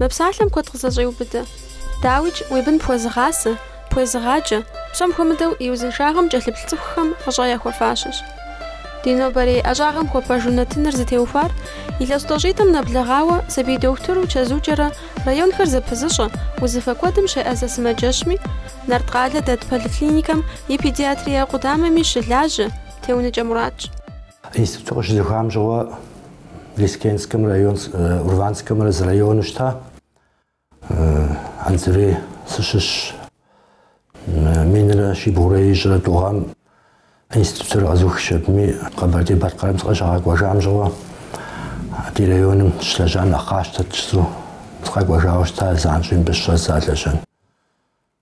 Мы псалъэм куэд къызэщӏеубыдэ. Дауикӏ, уи бын пхуэзыгъасэ, пхуезыгъаджэ, псом хуэмыдэу и узыншагъэм кӏэлъыплъ цӏыхухэм фӏыщӏэ яхуэфащэщ. Ди нобэрей ӏэщӏагъэм хуэпэжу нэтыныр зытеухуар илъэс тӏощӏитӏым нэблэгъауэ сабий дохутыру чэзукӏэрэ районхэр зэпызыщӏэ узыфэ куэдым щеӏэзэ сымаджэщми, Нарткъалэ дэт поликлиникэм и педиатрие къудамэми щылажьэ Теуныкӏэ Муратщ. Институтыр къыщызухам щыгъуэ Лескенскэмрэ район, Урванскэмрэ зы району щыта. Анзырей сыщыщ минрэ щибгъурэ ищӏрэ тӏу гъэм институтыр къэзухщ абыми, Къэбэрдей-Балъкъэрым сыкъыщагъэкӏуэжам щыгъуэ ди районым сыщылэжьам нэхъ къасщтэрт жызу, сыкъэкӏуэжауэ щыта занщӏэу мыбы щыщӏэздза лэжьэн.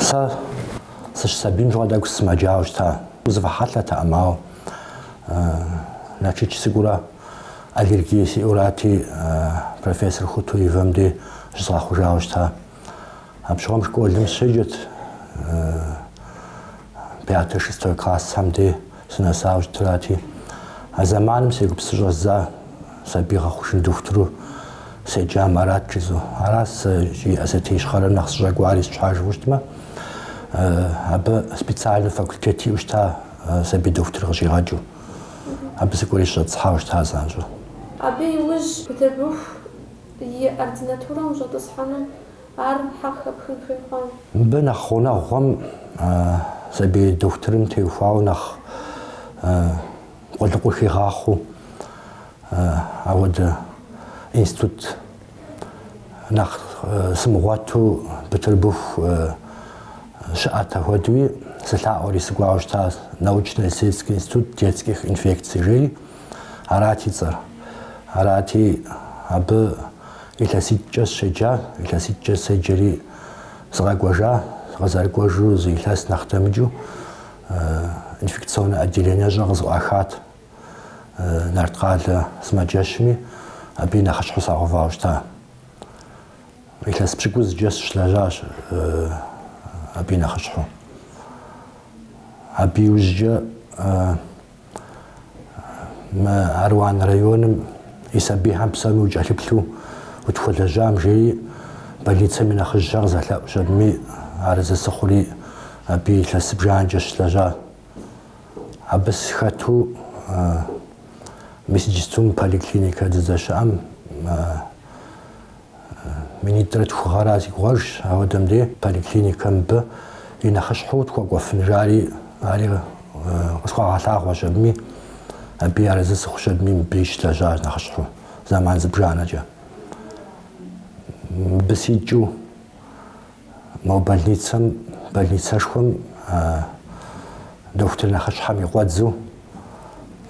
Сэ сыщысабийм щыгъуэ тӏэкӏу сысымэджауэ щыта. Узыфэ хьэлъэтэкъым, ауэ Налшык сыкӏуурэ аллергие сиӏэурати, профессор Хутуевэм дей щызгъэхъужауэ щыта. Апщыгъуэм школым сыщеджэт, пятэ, шестой классхэм дей. Сынэсауэ щытырати, а зэманым сегупсысу щӏэздза сабий гъэхъужын дохутыру седжам арат жызу. Арат сэ Осетие Ищхъэрэм нэхъ сыщӏэкӏуар, сыт щхьэ жыпӏэу щытмэ, абы специальнэ факультет иӏэу щыта сабий дохутыр къыщӏигъэкӏыу. Абы сыкӏуэри сыщӏэтӏысхьауэ щыта занщӏэу. Абы иужь Бытырбыху и ординатурэм ущӏэтӏысхьэну Ар къыхэпхын хуейкъэ? Мыбы нэхъ гъунэгъухэм сабий дохутырым теухуауэ нэхъ къулыкъур хигъахъуэу апхуэдэ институт нэхъ сымыгъуэту Бытырбыху щыӏэт. Апхуэдэуи сылъаӏуэри сыкӏуауэ щыта научно-исследовательский институт детских инфекций жери арат и цӏэр. Арати, абы Илъэситӏкӏэ сщеджа, илъэситӏкӏэ седжэри сыкъэкӏуэжа, къызэрыкӏуэжу зы илъэс нэхъ дэмыкӏыу инфекционнэ отделениещӏэ къызэӏуахат Нарткъалэ сымаджэщми, абы и нэхъыщхьэу сагъэувауэ щыта. Илъэс пщыкӏузкӏэ сыщылэжьащ абы и нэхъыщхьэу. Абы иужькӏэ Мы Аруан районым и сабийхэм псоми укӏэлъыплъу утхуэлэжьам жери больницэм и нэхъыжьхэр къызэлъэӏущ, абыми арэзы сыхъури абы илъэс зыбжанэкӏэ сыщылэжьа. Абы схэту мис иджыпсту мы поликлиникэ дыздэщыӏэм Минитӏрэ тхугъэра си гугъэжщ, ауэдэм дей поликлиникэм мыбы и нэхъыщхьэу тхуэкӏуэфын жари ари къысхуагъэлъагъуэщ абыми, абы арэзы сыхъущ абыми мыбы сыщылэжьащ нэхъыщхьэу зэман зыбжанэкӏэ. Мыбы сикӏыу Мо больницэм, больницэшхуэм дохутыр нэхъыщхьэм и къуэдзу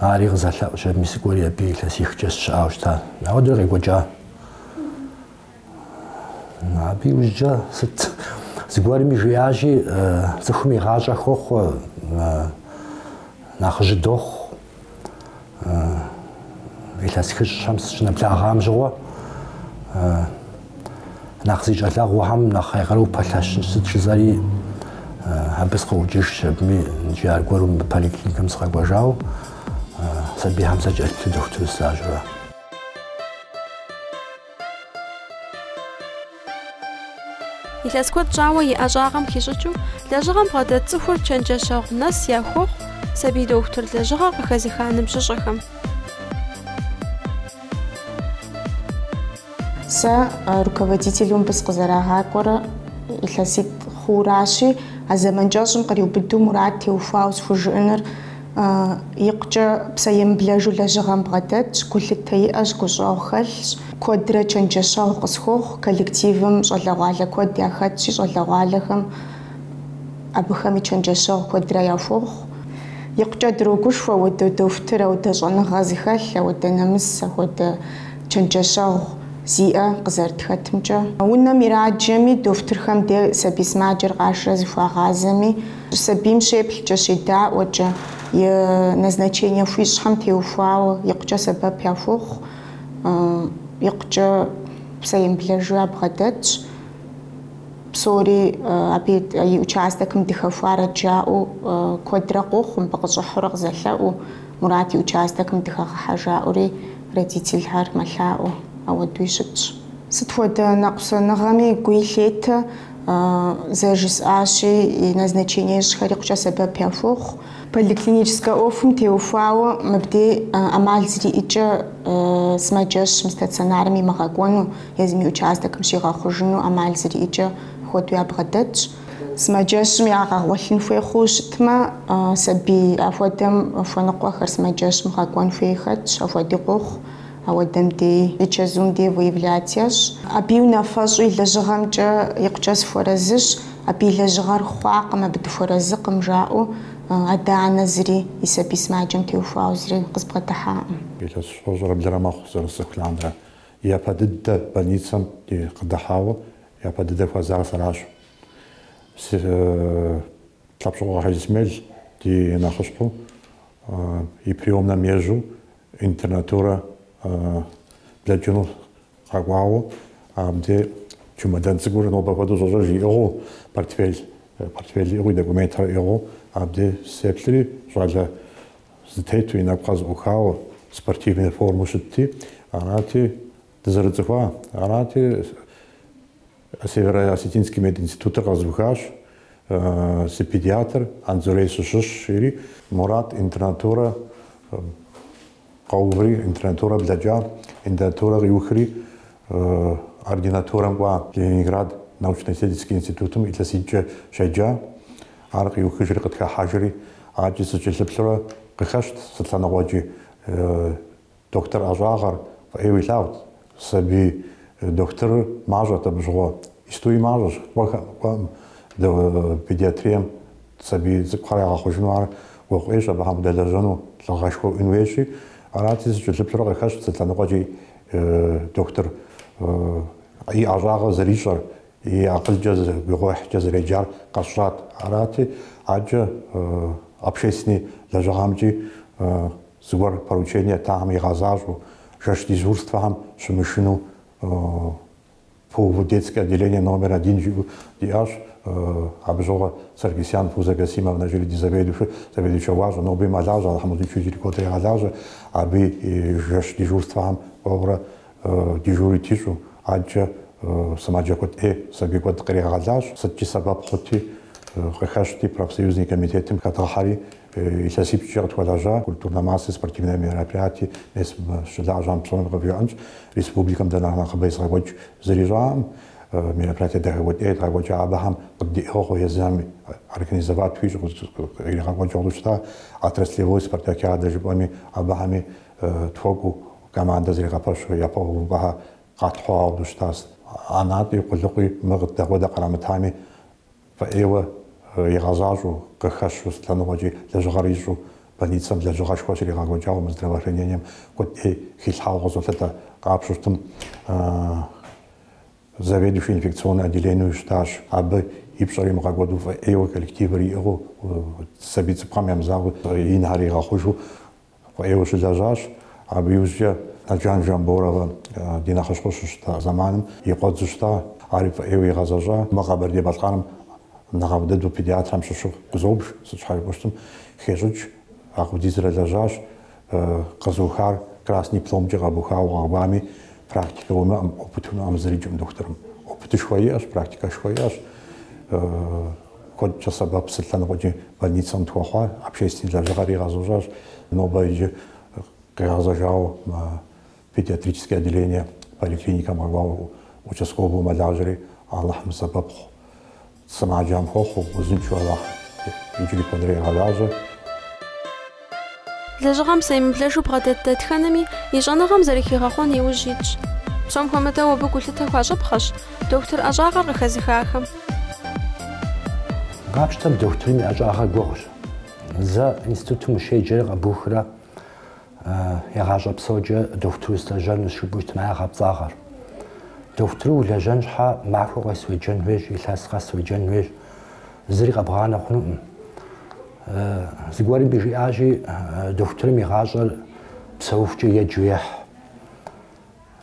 ари къызэлъэӏущ, абыми сыкӏуэри абы илъэсихкӏэ сщыӏауэ щыта. Ауэдэу къекӏуэкӏа. Абы иужькӏэ сыт? Зыгуэрми жиӏащи, цӏыхум и гъащӏэ хохъуэ, нэхъыжьы дохъу. илъэс хыщӏхэм сыщынэблагъам щыгъуэ нэхъ зи щӏалэгъуэхэм нэхъ я къару пэлъэщын сыт жызэри абы сыкъыӏукӏыжщ абыми иджы аргуэру мы поликлиникэм сыкъэкӏуэжауэ сабийхэм сакӏэлъыплъу дохутыру слажьэурэ. Илъэс куэд щӏауэ и ӏэщӏагъэм хищӏыкӏыу лэжьыгъэм бгъэдэт цӏыхур чэнджэщэгъу нэс яхуохъу сабий дохутыр лэжьыгъэ къыхэзыха ныбжьыщӏэхэм. Сэ руководителу мыбы сыкъызэрагъакӏуэрэ илъэситӏ хъууращи, а зэман кӏэщӏым къриубыдэу Мурат теухуауэ схужыӏэныр Икъукӏэ псэемыблэжу лэжьыгъэм бгъэдэтщ, гулъытэ иӏэщ, гущӏэгъу хэлъщ, куэдрэ чэнджэщэгъу къысхуохъу, коллективым щӏалэгъуалэ куэд яхэтщи, щӏалэгъуалэхэм абыхэми чэнджэщэгъу куэдрэ яхуохъу. Икъукӏэ дрогушхуэ ауэдэ дохутыр, ауэдэ щӏэныгъэ зыхэлъ, ауэдэ нэмыс, ахуэдэ чэнджэщэгъу зиӏэ къызэрытхэтымкӏэ. Унэм ираджэми, дохутырхэм де сабий сымаджэр къашэрэ зыхуагъазэми, Сабийм щеплъкӏэ, щедаӏуэкӏэ, и назначение хуищӏхэм теухуауэ икъукӏэ сэбэп яхуохъу, икъукӏэ псэемыблэжу ябгъэдэтщ. Псори абы и участокым дыхэхуарэт жаӏэу куэдрэ къохъу, мыбы къыщӏыхьурэ къызэлъэӏуу, Мурат и участокым дыхэгъэхьэ жаӏэури родительхэр мэлъаӏуэ. Ауэдуи щытщ. Сыт хуэдэ нэкъусэныгъэми гуи лъетэ. зэрыжысӏащи, и назначение ищӏхэр икъукӏэ сэбэп яхуохъу. Поликлиническэ ӏуэхум теухуауэ мыбдей ӏэмал зэриӏэкӏэ сымаджэщым, стационарым имыгъэкӏуэну, езым и участокым щигъэхъужыну ӏэмал зэриӏэкӏэ хуэдэу ябгъэдэтщ. Сымаджэщым ягъэгъуэлъын хуей хъууэ щытмэ, сабий ахуэдэм хуэныкъуэхэр сымаджэщым гъэкӏуэн хуей хэтщ, ахуэди къохъу. Ауэдэм дей и чэзум дей выявлять ящӏ. Абы и унафэщӏу и лэжьыгъэмкӏэ икъукӏэ сыхуэразыщ, абы и лэжьыгъэр хъуакъым, абы дыхуэразыкъым, жаӏэу адэ-анэ зыри и сабий сымаджэм теухуауэ зыри къызбгъэдыхьакъым. Илъэс щэщӏрэ блырэ мэхъу зэрысцӏыху лъандэрэ. Япэ дыдэ больницэм ди къыдыхьауэ, япэ дыдэ хуэзар сэращ. Лъэпщокъуэ Хьэжисмел ди нэхъыщхьэу, и приемнэм ежьэу Интернатурэ блэкӏыну къэкӏуауэ, абди чемодан цӏыкӏур нобэ хуэдэу сощӏэж иӏыгъыу, портфель, портфель иӏыгъуи, документхэр иӏыгъыу, абди сеплъри, щӏалэ зэтету и нэгур зэӏухауэ, спортивнэ формэу щытти, арати, Дызэрыцӏыхуа арати, Северо-Осетинский мединститутыр къэзухащ, сыпедиатр Анзурей сыщыщщ, жери Мурат интернатурэ къэуври, интернатурэ блэкӏа, интернатурэ къиухри, ординатурэм кӏуа, Ленинград научно-исследовательский институтым илъэситӏкӏэ щеджа. Ар къиухыжри къытхыхьэжри, адэкӏи сыкӏэлъыплъурэ къыхэщт сыт лъэныкъуэкӏи Дохутыр ӏэщӏагъэр фӏыӏейуэ илъагъут, сабий дохутырыр мащӏэт абы щыгъуэ. Истуи мащӏэщ, куэд кӏуэкъым педиатрием сабий цӏыкӏухэр ягъэхъужыну, ар гугъу ӏуейщ абыхэм удэлэжьэну, лӏыгъэшхуэ уиӏэн хуейщи. Арати, сыкӏэлъыплъурэ къыхэщ сыт лъэныкъуэкӏи дохутыр и ӏэщӏагъэр зэрищӏэр, и акъылкӏэ, гугъуехькӏэ зэреджар къэсщӏат. Арати, адэкӏэ общественнэ лэжьыгъэмкӏи. Зыгуэр поручение еттам игъэзащӏэу, жэщ дежурствэхэм щымышынэу кӏуэуэ детское отделение номер один жиӏэу диӏащ. Абы щыгъуэ Саргисян Фузэ Касимовнэ жиӏэри ди заведующыр, заведующэ гуащӏэ, ноби мэлажьэ, Алыхьым узыншэу иджыри куэдрэ игъэлажьэ. Абы и жэщ дежурствэхэм кӏуэурэ дежурить ищӏу, адэкӏэ сымаджэ куэд ӏей, сабий куэд къригъэлащ. Сыткӏи сэбэп хъути, къыхэщти, профсоюзный комитетым хэдгъэхьэри, Илъэсипщӏкӏэ къытхуэлэжьа культурнэ массэ, спортивнэ мероприятие мес мы щылажьэм псоми къывжиӏэнщ. Республикэм дэ нэхъ нэхъыбэ езыгъэкӏуэкӏ зыри щыӏэкъым. Мероприятие дахэ куэд ӏей едгъэкӏуэкӏа абыхэм къыддиӏыгъыу езыми организовать ищӏу къригъэкӏуэкӏыу щыта. Отраслевой спартакиадэ жыпӏэми абыхэми тхуэкӏуу командэ зригъэпэщу япэу увыпӏэхэр къэтхьу дыщытащ. Ӏэнатӏи, къулыкъуи, мыр къыддэкӏуэдэ кърамытами, Фӏыӏейуэ игъэзащӏэу къыхэщу сыт лъэныкъуэкӏи, лэжьыгъэр ищӏу больницэм лэжьыгъэшхуэ щригъэкӏуэкӏауэ мы здравоохранением куэд ӏей хилъхьауэ къызолъытэ. Къапщтэу щытмэ, заведующий инфекционнэ отделенэу щытащ. Абы и пщӏэр имыгъэкӏуэду фӏыӏейуэ коллективыр иӏыгъыу, сабий цӏыкӏухэм ямызакъуэу, инхэр игъэхъужу Фӏыӏейуэ щылэжьащ. Абы иужькӏэ Наджан Жамборовэ ди нэхъыщхьэу щыщыта зэманым и къуэдзу щыта. Ари фӏыӏейуэ игъэзэщӏа. Мы Къэбэрдей-Балъкъэрым нэхъыфӏ дыдэу педиатрхэм щыщу къызобж, сыт щхьэ жыпӏэу щытым хещӏыкӏ. Апхуэдизрэ лэжьащ. Къэзыухар красный дипломкӏэ къэбухауэ къэкӏуами, практикэ уимыӏэм, опыт уимыӏэм зырикӏым дохутырым. Опытышхуэ иӏэщ, практикэшхуэ иӏэщ. Куэдкӏэ сэбэп сыт лъэныкъуэкӏи больницэм тхуэхъуа, общественный лэжьыгъэри игъэзэщӏащ, нобэ иджы къигъэзэжауэ мы педиатрический отделение поликлиникэм къэкӏуауэ участковэу мэлажьэри, Алыхьым сэбэп хъу. Сымаджам хуэхъу, узыншэу Алыхьым иджыри куэдрэ игъэлажьэ. Лэжьыгъэм псэемыблэжу бгъэдэт дэтхэнэми и щӏэныгъэм зэрыхигъэхъуэн и ужь итщ. Псом хуэмыдэу абы гулъытэ хуащӏыпхъэщ дохутыр ӏэщӏагъэр къыхэзыхахэм. Къапщтэм дохутырым и ӏэщӏагъэр гугъущ. Зэ институтым ущеджэрэ къэбухрэ я гъащӏэ псокӏэ дохутыру слэжьэнущ жыпӏэу щытмэ, ар гъэпцӏагъэр. Дохутыру улэжьэн щхьэ махуэ къес уеджэн хуейщ, илъэс къэс уеджэн хуейщ, зыри къэбгъанэ хъунукъым. Зыгуэрым жиӏащи, дохутырым и гъащӏэр псэухукӏэ еджэу ехь.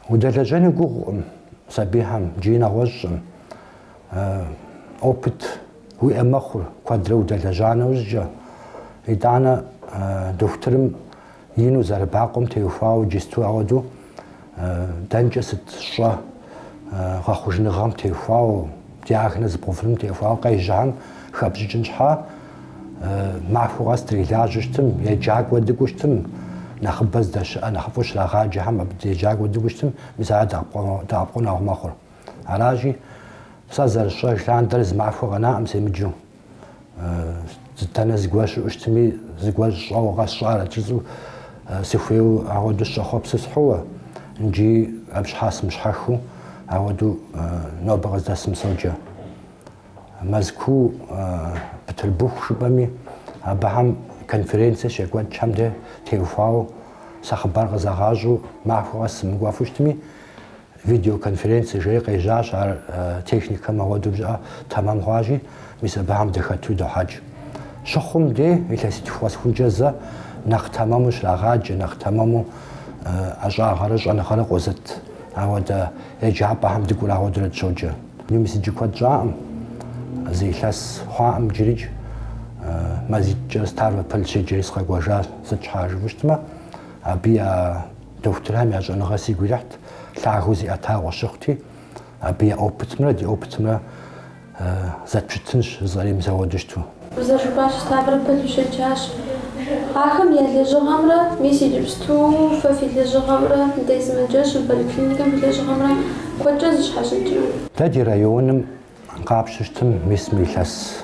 Удэлэжьэну гугъукъым сабийхэм икӏи нэгъуэщӏым. Опыт уиӏэ мэхъур куэдрэ удэлэжьа нэужькӏэ. Итӏанэ дохутырым Ину зэрыбакъуэм теухуауэ иджыпсту ауэдэу дэнкӏэ сыт щӏэ гъэхъужыныгъэм теухуауэ, диагноз бгъэувыным теухуауэ къежьэхэм хэпщӏыкӏын щхьа, махуэ къэс дрилажьэу щытым, еджакӏуэ дыкӏуэу щытым, нэхъыбэ здэщыӏэ, нэхъыфӏу щрагъаджэхэм абы де еджакӏуэ дыкӏуэу щытым, мис ар дэӏэпыкъуэгъу мэхъур. Аращи, сэ зэрысщӏэж лъандэр зы махуэ къэнаӏым семыджэу. Итӏанэ зыгуэр щыӏэу щытми, зыгуэр щӏэуэ къэсщӏарэт жысӏэу сыхуейу агъуэду сыщӏэхъуэпсу схьууэ. Икӏи абы щхьа сымыщхьэхыу агъуэду нобэ къыздэсым соджэ. Мэзкуу Бытырбыху жыпӏэми, абыхэм конференцэ щекӏуэкӏхэм де теухуауэ сэ хъыбар къызагъащӏэу махуэ къэс сымыкӏуэфу щытми, Видеоконференцэ жери къежьащ ар техникэм ауэдэу бжьыӏэ тэмэм хъуащи, мис абыхэм дыхэту дохьэкӏ. Щыхъум де, илъэситху къэсыхункӏэ зэ нэхъ тэмэму щрагъаджэ, нэхъ тэмэму ӏэщӏагъэрэ щӏэныгъэрэ къозыт. Ауэдэ еджапӏэхэм дыкӏуэурэ ауэдурэ дыщоджэ. Мис иджы куэд щӏакъым, зы илъэс хъуакъым иджырикӏ, мазитӏкӏэ Ставрополь сыщеджэри сыкъэкӏуэжащ, сыт щхьа жыфӏэу щытмэ. Абы я дохутырхэм я щӏэныгъэр сигу ирихьт, лъагэу зиӏэтауэ щыхъути, абы я опытымрэ ди опытымрэ зэтпщытынщ зызэремызэгъэу дыщыту. Уэ зэрыжыпӏащи, Ставрополь ущеджащ. Ахэм я лэжьыгъэмрэ, мис иджыпсту фэ фи лэжьыгъэмрэ, дэ сымаджэщым поликлиникэм фи лэжьыгъэмрэ куэдкӏэ зэщхьэщыкӏрэ? Дэ ди районым къапщтэм мис мы илъэс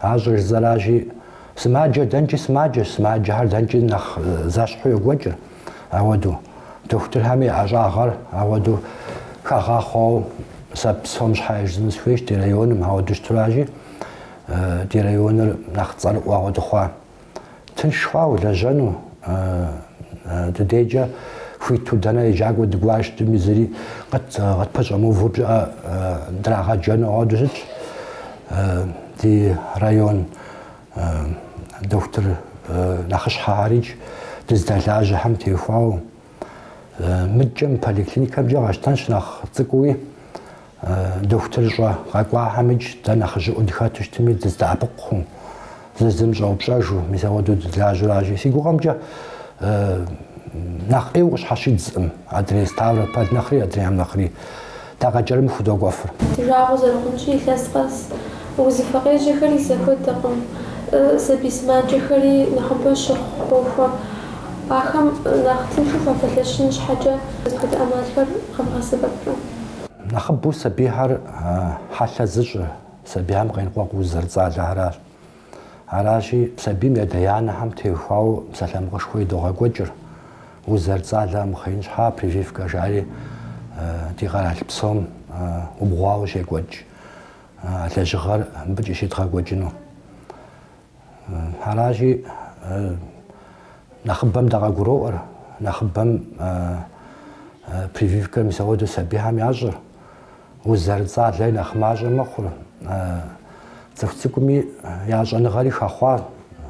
Ащӏэж зэражи, сымаджэр дэнкӏи сымаджэщ, сымаджэхэр дэнкӏи нэхъ зэщхьу йокӏуэкӏыр. Ауэду, дохутырхэми я ӏэщӏагъэр ауэду хагъахъуэу сэ псом щхьэ жысӏэну сыхуейщ ди районым, ауэду щыту аращи, ди районыр нэхъ цӏэрыӏуэ ауэду хъуа. Тынш хъуа улэжьэну? Ди дежкӏэ хуиту дэнэ еджакӏуэ дыкӏуа щытми зыри къытпэщӏэмыувэу пщӏыӏэ драгъэджэну ауэду щытщ. Ди район дохутыр нэхъыщхьэхэр идж дыздэлажьэхэм теухуауэ. Мыдкӏэ мы поликлиникэмкӏэ къэтщтэнщ нэхъ цӏыкӏуи. Дохутырыщӏэ къэкӏуахэм идж дэ нэхъыжьыӏуэу дыхэту щытми дыздэӏэпыкъуу, зыр зым щӏэупщӏэжу, мис ауэдэу дыздэлажьэу аращи. Си гугъэмкӏэ нэхъ ӏейуэ къыщхьэщидзкъым адрей Ставрополь нэхъри, адрейхэм нэхъри. Дэ къэкӏэрым худогуэфыр. Ди жагъуэ зэрыхъунщи, илъэс къэс узыфэ къежьэхэри зэхуэдэкъым. Сабий сымаджэхэри нэхъыбэу щыхъу къохуэ. Ахэм нэхъ тыншу фапэлъэщын щхьэкӏэ, сыт хуэдэ ӏэмалхэр къэвгъэсэбэпрэ? Нэхъыбэу сабийхэр хьэлъэ зыщӏыр сабийхэм къеныкъуэкъу уз зэрыцӏалэхэращ. Аращи, сабийм ядэ-янэхэм теухуауэ псалъэмакъышхуэ идогъэкӏуэкӏыр, уз зэрыцӏалэ мыхъеин щхьа прививкэ жари ди къэрал псом убгъуауэ щекӏуэкӏ а лэжьыгъэр мыбыкӏи щедгъэкӏуэкӏыну. Аращи, нэхъыбэм дэ къагуроӏуэр, нэхъыбэм прививкэ мис ауэдэу сабийхэм ящӏыр, уз зэрыцӏалэри нэхъ мащӏэ мэхъур, цӏыху цӏыкӏуми я щӏэныгъэри хэхъуа,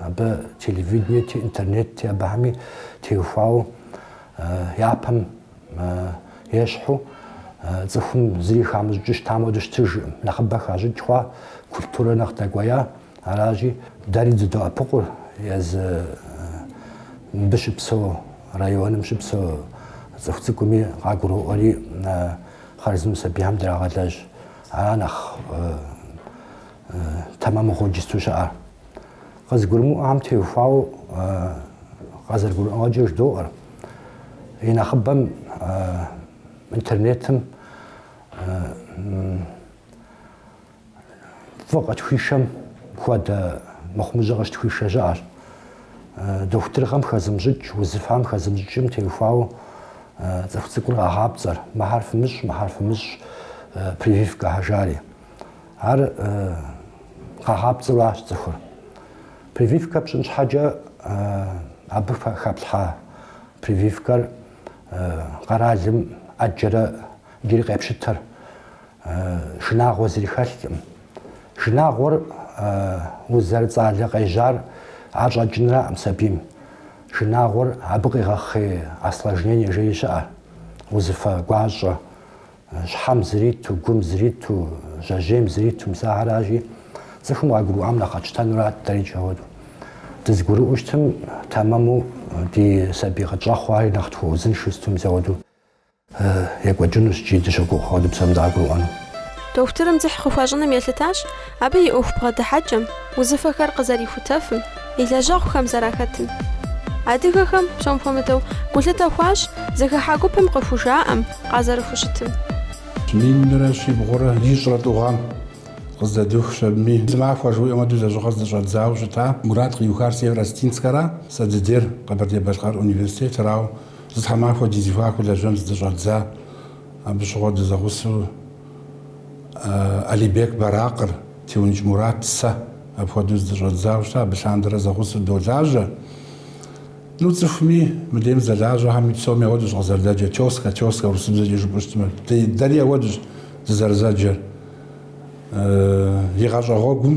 абы телевиденети, интернетти абыхэми теухуауэ япэм ещхьу, цӏыхум зыри хамыщӏыкӏыу щытам хуэдэу щытыжкъым, нэхъыбэ хащӏыкӏ хъуа, культурэ нэхъ дэкӏуея. Аращи, дэри дыдоӏэпыкъур езы мыбы щыпсэу районым щыпсэу цӏыху цӏыкӏуми къагуроӏуэри хъарзынэу сабийхэм драгъэлэжь. Ара нэхъ тэмэму иджыпсту щыӏэр. Къызыгурымыӏуэхэм теухуауэ къазэрыгурыӏуэгъэкӏэ жыдоӏэр. И нэхъыбэм интернетым Фӏы къытхуишэм хуэдэ мыхъумыщӏэ къыщытхуишэ щыӏэщ. Дохутырыгъэм хэзымыщӏыкӏ, узыфэм хэзымыщӏыкӏым теухуауэ цӏыху цӏыкӏур къагъапцӏэр, мыхьэр фымыщӏ, мыхьэр фымыщӏ, прививкэхьэ жари. Ар къагъапцӏэу аращ цӏыхур. Прививкэ пщӏын щхьэкӏэ абы хэплъхьа прививкэр къэралым ӏэджэрэ иджыри къепщытэр. Шынагъуэ зыри хэлъкъым. Шынагъуэр уз зэрыцӏалэ къежьар ар щӏэкӏынраӏым сабийм. Шынагъуэр абы къигъэхъей осложнение жери щыӏэ, узыфэ гуащӏэ, щхьэм зриту, гум зриту, жьэжьейм зриту, мис ахэращи, цӏыхум къагурыӏуам нэхъ къэтщтэнурат дэрикӏ ауэдэу. Дызэгурыӏуэу щытым, тэмэму ди сабий къытщӏэхъуари нэхъ тхуэузыншэу щыту мис ауэдэу. Екӏуэкӏынущ икӏи дыщогугъ ауэдэу псоми дагурыӏуэну. Дохутырым дзыхь къыхуащӏыным елъытащ абы и ӏуэху бгъэдыхьэкӏэм, узыфэхэр къызэрихутэфым, и лэжьэгъухэм зэрахэтым. Адыгэхэм, псом хуэмыдэу, гулъытэ хуащӏ зыхыхьэ гупым къыхужаӏэм, къазэрыхущытым. Минрэ щибгъурэ ищӏрэ тӏу гъэм къыздэдухащ абыми, зы махуэ жыуаӏэм хуэдэу лэжьыгъэр здыщӏэдзауэ щыта Мурат къиухар Северо-Осетинскэра, сэ дыдейр Къэбэрдей-Балъкъэр университетрауэ Зы тхьэмахуэ ди зэхуаку лэжьэн здыщӏэдза, абы щыгъуэ дызэгъусэу Алибек Баракъыр, Теункӏ Мурат, сэ апхуэдэу здыщӏэдзауэ щыта, абы лъандэрэ зэгъусэу долажьэ. Ну, цӏыхуми, мы дейм зэлажьэхэми псоми ауэдэущ къызэрыдэджэр, тёска, тёска, урысыбзэкӏэ жыпӏэу щытмэ, дэри ауэдэущ дызэрызэджэр. И гъащӏэ гъуэгум.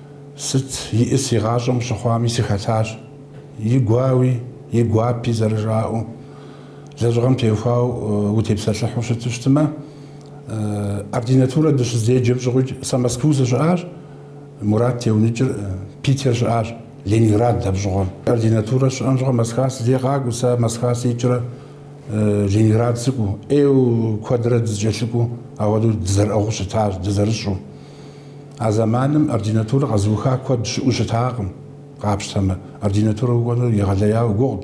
Сыт иӏыс и гъащӏэм къыщыхъуами, сыхэтащ. И гуауи, и гуапи зэрыжаӏэу, лэжьыгъэм теухуауэ утепсэлъыхьу щыту щытмэ, ординатурэ дыщыздеджэм щыгъуикӏ сэ Мэсквэу сыщыӏащ, Мурат Теуныкӏыр Питер щыӏащ, Ленинградт апщыгъуэм. Ординатурэ щыӏэм щыгъуэ Мэсква си дей къакӏуэу, сэ Мэсква сикӏрэ Ленинград сыкӏуэу, ӏейуэ куэдрэ дызэкӏэлъыкӏуэу, ауэдэу дызэрыӏыгъыу щытащ, дызэрыщӏэу. А зэманым ординатурэ къэзыуха куэд щыӏэу щытакъым, къапщтэмэ, ординатурэ укӏуэнур егъэлеяуэ гугъут.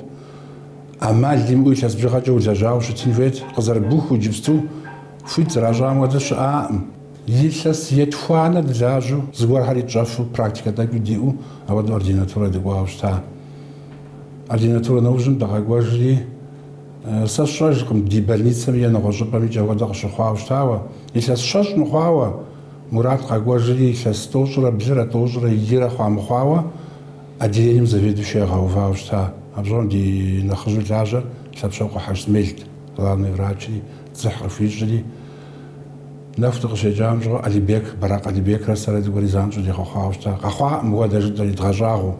ӏэмал имыӏэу илъэс бжыгъэкӏэ улэжьауэ щытын хуейт, къызэрыбухыу иджыпсту хуит зэращӏам хуэдэ щыӏаӏым. Илъэс етхуанэ дылажьэу, зыгуэрхэри тщӏэфу, практикэ тӏэкӏуи диӏэу ауэдэу ординатурэ дыкӏуауэ щыта. Ординатурэ нэужьым дыкъэкӏуэжри. Сэ сщӏэжкъым ди больницэм е нэгъуэщӏыпӏэм икӏи апхуэдэ къыщыхъуауэ щытауэ. Илъэс щэщӏ мыхъуауэ, Мурат къэкӏуэжри, илъэс тӏощӏрэ блырэ, тӏощӏрэ ирэ хъуа мыхъуауэ, отделением заведующэу ягъэувауэ щыта. Абы щыгъуэм ди нэхъыжьу лажьэр Лъэпщокъуэ Хьэжысмелт, главный врачри, дзыхь къыхуищӏри. Нэху дыкъыщекӏам щыгъуэ Алибек, Баракъ Алибекрэ сэрэ зыгуэри занщӏэу дигъэхъуауэ щыта. Къэхъуакъым мыхуэдэ жытӏэри, дгъэщӏагъуэу.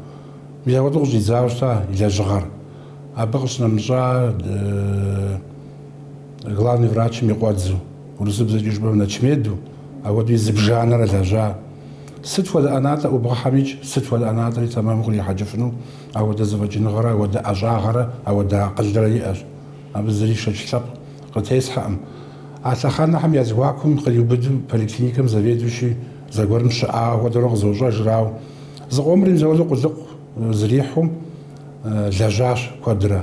Мис апхуэдэу къыщӏидзауэ щыта и лэжьыгъэр. Абы къыщынэмыщӏа главный врачым и къуэдзу, урысыбзэкӏи жыпӏэм начмеду, апхуэдэу и зыбжанэрэ лэжьа. Сыт хуэдэ ӏэнатӏэ ӏубгъэхьэмикӏ, сыт хуэдэ ӏэнатӏэри тэмэму кърихьэкӏыфыну апхуэдэ зэфӏэкӏыныгъэрэ апхуэдэ ӏэщӏагъэрэ апхуэдэ акъылрэ иӏэщ. Абы зыри шэч лъэпкъ къытесхьэкъым. А лъэхъэнэхэм я зэхуакум къриубыду поликлиникэм заведующий зэгуэрым щыӏа хуэдэурэ къызощӏэжыр, ауэ зыкъомри мис апхуэдэу къулыкъу. Зрихьу лэжьащ куэдрэ.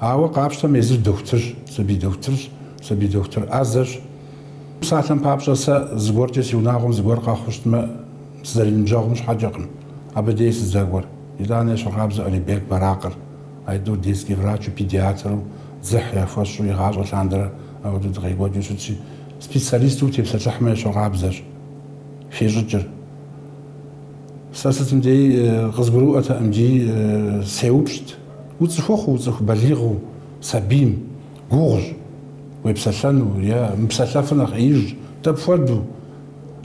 Ауэ къапщтэм езыр дохутырщ, сабий дохутырщ, сабий дохутыр ӏэзэщ. Псалъэм папщӏэ, сэ зыгуэркӏэ си унагъуэм зыгуэр къэхъуу щытмэ, сызэриныбжьэгъум щхьэкӏэкъым абы дей сыздэкӏуэр. Итӏанэ ещхьыркъабзэу Алибек Баракъыр, а тӏур детский врачу, педиатру, дзыхь яхуэсщӏу игъащӏэ лъандэрэ апхуэдэу дыкъекӏуэкӏыу щытщи, специалисту утепсэлъыхьмэ ещхьыркъабзэщ, хещӏыкӏыр. Сэ сытым дей къызгурыӏуэтэкъымти, сеупщӏт, уцӏыхухъуу, уцӏыху балигъыу сабийм, гугъущ, уепсэлъэну е мыпсэлъэфыр нэхъ ӏеижщ, дапхуэдэу?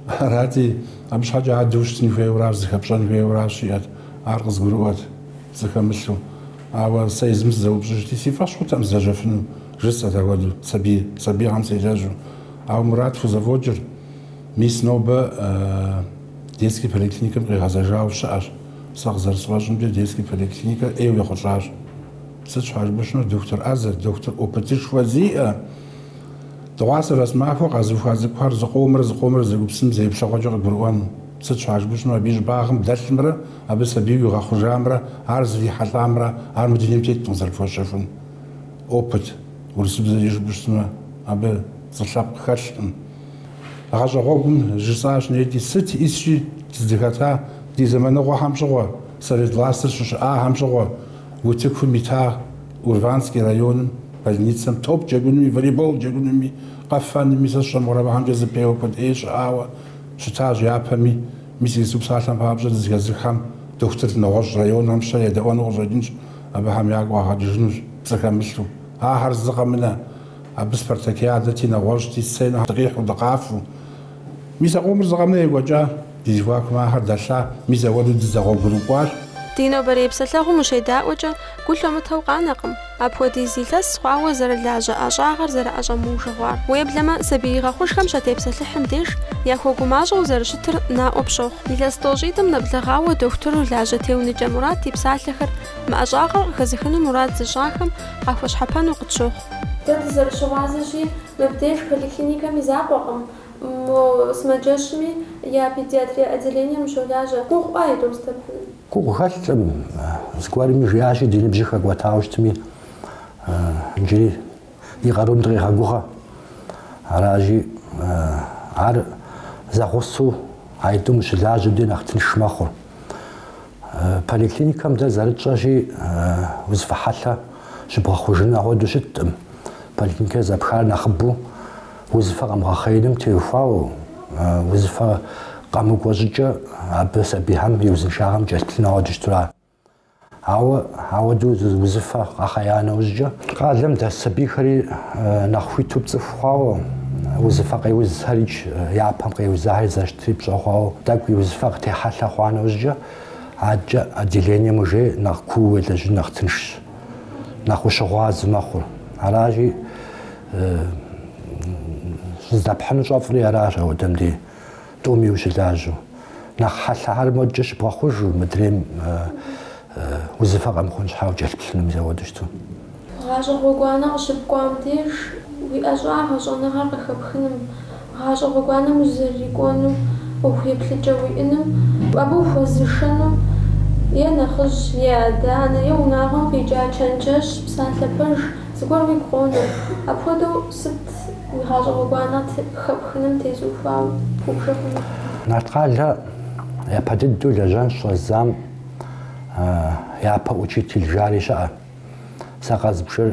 Арати, абы щхьэкӏэ адэ ущытын хуейуэращ, зыхэпщӏэн хуейуэращ, жиӏэрт, ар къызгурыӏуэрт, пцӏы хэмылъу. Ауэ сэ езым сызэупщӏыжти, си фӏэщ хъуртэкъым сылэжьэфыну, жысӏэрт апхуэдэу, сабий, сабийхэм селэжьу. Ауэ Мурат хузэфӏокӏыр, мис нобэ. Детский поликлиникэм къигъэзэжауэ щыӏэщ. Сэ къызэрысфӏэщӏымкӏэ, детский поликлиникэр ӏейуэ ехъулӏащ. Сыт щхьэ жыпӏэу щытмэ, доктор ӏэзэр, доктор опытышхуэ зиӏэ, дыгъуасэ-вэсэмахуэ къэзыуха цӏыкӏухэр зыкъомрэ зыкъомрэ зэгупсысым зэ еплъыгъуэкӏэ къыгурыӏуэну. Сыт щхьэ жыпӏэу щытмэ, абы и щӏыбагъым дэлъымрэ абы сабийуэ игъэхъужамрэ ар зрихьэлӏамрэ ар мы дунейм теткъым зэрыпхуэщэхун. Опыт, урысыбзэкӏэ жыпӏэу щытмэ, абы пцӏы лъэпкъ хэлъкъым. Гъэщӏэгъуэгум жысӏащ неди, сыт исщи дызыхэта ди зэманыгъуэхэм щыгъуэ, совет властыр щыщыӏахэм щыгъуэ, утыкум ита Урванский районым больницэм топ джэгунми, волейбол джэгунми, къэфэнми, сэ сщӏэ мыгъуэрэ, абыхэмкӏэ зэпеуэ куэд ӏей щыӏауэ щытащ япэми. Мис иджыпсту псалъэм папщӏэ дызэхэзыххэм дохутыр нэгъуэщӏ районхэм щедэӏуэну къыщӏэкӏынщ, абыхэм ягу къагъэкӏыжынущ пцӏы хэмылъу, ахэр зы къэмынэ. Абы спартакиадэти, нэгъуэщӏти, сценэхэм дыкъихьу, дыкъафэу. Мис а къомыр зы къэмынэ екӏуэкӏа. Ди зэхуакум ахэр дэлъа, мис ауэду дызэгъуэгурыкӏуащ. Ди нобэрей псэлъэгъум ущедаӏуэкӏэ, гу лъумытэу къанэкъым, апхуэдиз илъэс хъуауэ зэрылажьэ ӏэщӏагъэр зэрыӏэщӏэмыужыгъуар. Уеблэмэ, сабий игъэхъужхэм щатепсэлъыхьым деж, яхуэгумащӏэу зэрыщытыр наӏуэ пщохъу. Илъэс тӏощӏитӏым нэблэгъауэ дохутыру лажьэ Теуныкӏэ Мурат и псалъэхэр мы ӏэщӏагъэр къыхэзыхыну мурад зыщӏахэм къахуэщхьэпэну къытщохъу. Дэ дызэрыщыгъуазэщи, мыбдеж поликлиникэм и закъуэкъым, мо сымаджэщми я педиатрия отделением ущолажьэ. Гугъуӏуэ аитӏум здэпхьыным? Гугъу хэлъкъым. Зыгуэрми жиӏащи, ди ныбжьыр хэкӏуэтауэ щытми, иджыри ди къарум дыкъегъэгугъэ. Аращи, ар зэгъусэу аитӏум ущылажьэм дей нэхъ тынш мэхъур. Поликлиникэм дэ зэрытщӏэщи узыфэ хьэлъэ щыбгъэхъужыну агъуэду щыткъым. Поликлиникэр зэпхар нэхъыбэу узыфэ къэмыгъэхъеиным теухуауэ, узыфэ къэмыкӏуэ щӏыкӏэ абы сабийхэм и узыншагъэм кӏэлъыплъыну агъуэду щыту ара. Ауэ ауэду узыфэ къэхъея нэужькӏэ, къалэм дэс сабийхэри нэхъ хуиту пцӏыху хъуауэ, узыфэ къеузхэри япэм къеузахэри зэщтри пщӏэ хъуауэ, тӏэкӏу и узыфэ къытехьэлъэ хъуа нэужькӏэ, адэкӏэ отделением уже нэхъ куууэ уелэжьын нэхъ тыншщ, нэхъ ущыгъуазэ мэхъур. Аращи, щыздэпхьыну щӏэфӏри аращ ауэдэм дей. Тӏуми ущылажьэу, нэхъ хьэлъэхэр модкӏэ щыбгъэхъужу, мыдрейм узыфэ къэмыхъун щхьа укӏэлъыплъыну мис ауэду щыту. Гъащӏэ гъуэгуанэ къыщыпкӏуам деж, уи ӏэщӏагъэ, щӏэныгъэр къыхэпхыным, гъащӏэ гъуэгуанэм узэрырикӏуэну ӏуэху еплъыкӏэ уиӏэным, абы ухуэзышэну е нэхъыжь, е адэ-анэ, е унагъуэм къикӏа чэнджэщ, псалъэ пэж зыгуэр уигу къонэ. Апхуэдэу сыт уи гъащӏэ гъуэгуанэ хэпхыным тезухуауэ убж хъуну? Нарткъалэ япэ дыдэу лэжьэн щӏэздзам япэ учитель жари щыӏэ. Сэ къэзбжыр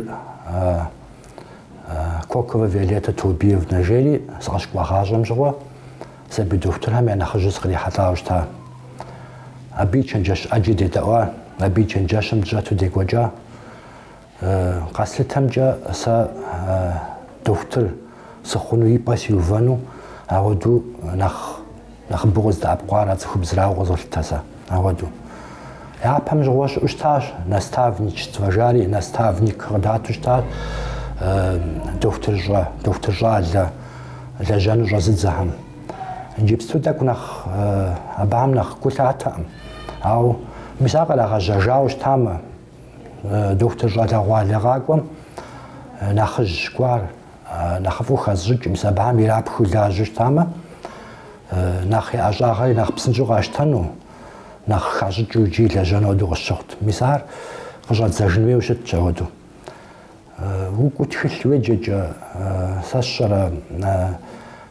Кокова Виолетта Турбиевна жери сыкъыщыкӏуагъащӏэм щыгъуэ сабий дохутырхэм я нэхъыжьу сыкърихьэлӏауэ щыта. Абы и чэнджэщ ӏэджи дедэӏуа, абы и чэнджэщым дыщӏэту декӏуэкӏа. Къэслъытэмкӏэ сэ дохутыр сыхъуну и пӏэ сиувэну, ауэду нэхъ нэхъыбэу къыздэӏэпкъуар а цӏыхубзрауэ къызолъытэ сэ. Ауэду. Япэм щыгъуэ щыӏэу щытащ, наставничество жари, наставник къыдату щытащ дохутырщӏэ, дохутыр щӏалэ лэжьэну щӏэзыдзэхэм. Иджыпсту тӏэкӏу нэхъ абыхэм нэхъ гу лъатэкъым. Ауэ мис ар кърагъэжьэжауэ щытамэ, Дохутыр щӏалэгъуалэ къакӏуэм нэхъыжь гуар нэхъыфӏу хэзщӏыкӏ, мис абыхэм ирапхыу лажьэу щытамэ, нэхъ я ӏэщӏагъэри нэхъ псынщӏэу къащтэну, нэхъ хащӏыкӏыу иджы лэжьэну ауэдэу къысщыхъут. Мис ар къыщӏэдзэжын хуейуэ щытщ ауэдэу. Укӏуэу тхылъ уеджэкӏэ, сэ сщӏэрэ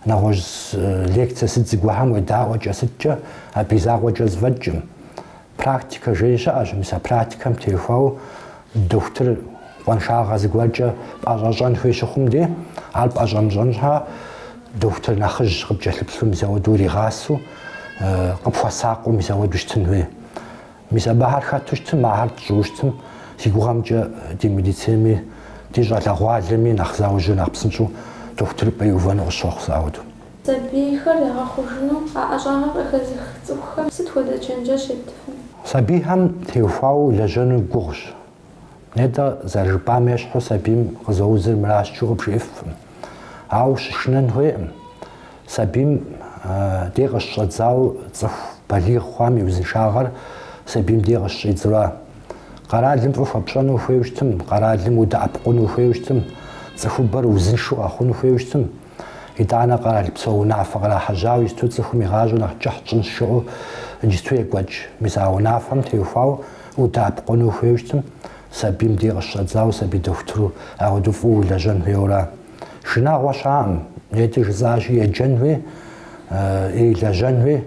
нэгъуэщӏ лекцие сыт зыгуэрхэм уедаӏуэкӏэ сыткӏэ, абы и закъуэкӏэ зэфӏэкӏым, Практикэ жери щыӏэщ, мис а практикэм техуэу дохутыр къуаншагъэ зыгуэркӏэ пӏэщӏэщӏэн хуей щыхъум де, ар пӏэщӏэмыщӏэн щхьа дохутыр нэхъыжь къыпкӏэлъыплъу мис ауэду уригъасэу, къыпхуэсакъыу мис ауэду щытын хуей. Мис абыхэр хэту щытым, ахэр тщӏыу щытым, си гугъэмкӏэ ди медицинэми, ди щӏалэгъуалэми нэхъ заужьу, нэхъ псынщӏэу дохутырыпӏэ иувэну къысщохъу сэ ауэдэу. Сабийхэр ягъэхъужыну а ӏэщӏагъэр къыхэзых цӏыхухэм сыт хуэдэ чэнджэщ еттыфын? Сабийхэм теухуауэ улэжьэнур гугъущ. Нетӏэ, зэрыжыпӏам ещхьу сабийм къызэузыр мыращ жиӏэу къыбжиӏэфкъым. Ауэ щышынэн хуейкъым. Сабийм дей къыщыщӏэдзауэ цӏыху балигъ хъуам и узыншагъэр сабийм дей къыщыщӏидзэура. Къэралым фӏы хуэпщӏэну ухуейуэ щытым, къэралым удэӏэпыкъуну ухуейуэ щытым, цӏыхубэр узыншэу къэхъуну ухуейуэ щытым, Итӏанэ къэрал псо унафэ кърахьэжьауэ иджысту цӏыхум и гъащӏэр нэхъ кӏыхь тщӏынщ жыӏэу иджысту екӏуэкӏ. Мис а унафэм теухуауэ удэӏэпыкъуну ухуейуэ щытым, сабийм дей къыщыщӏэдзауэ сабий дохутыру ауэдэу фӏыуэ улэжьэн хуейуэра. Шынагъуэ щаӏым, нетӏэ жысӏащи, еджэн хуей, лэжьэн хуей.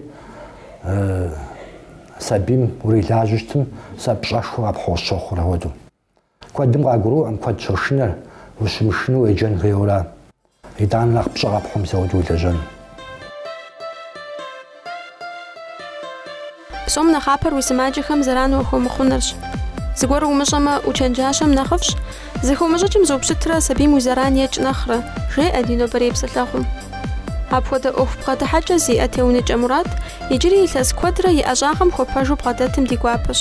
Сабийм урилажьэу щытым, сэ пщӏэшхуэ къэпхьу сщохъур ауэдэу. Куэдым къагурыӏуэкъым куэд щошынэр ущымышынэу уеджэн хуейуэра. Итӏанэ нэхъ пщӏэ къэпхьу мис ауэдэу улэжьэн. Псом нэхъапэр уи сымаджэхэм зэран уахуэмыхъунырщ. Зыгуэр умыщӏэмэ, учэнджащэм нэхъыфӏщ, зыхыумыщӏыкӏым зыупщытрэ сабийм уи зэран екӏ нэхърэ, жеӏэ ди нобэрей псэлъэгъум. Апхуэдэ ӏуэху бгъэдыхьэкӏэ зиӏэ Теуныкӏэ Мурат иджыри илъэс куэдрэ и ӏэщӏагъэм хуэпэжу бгъэдэтым ди гуапэщ.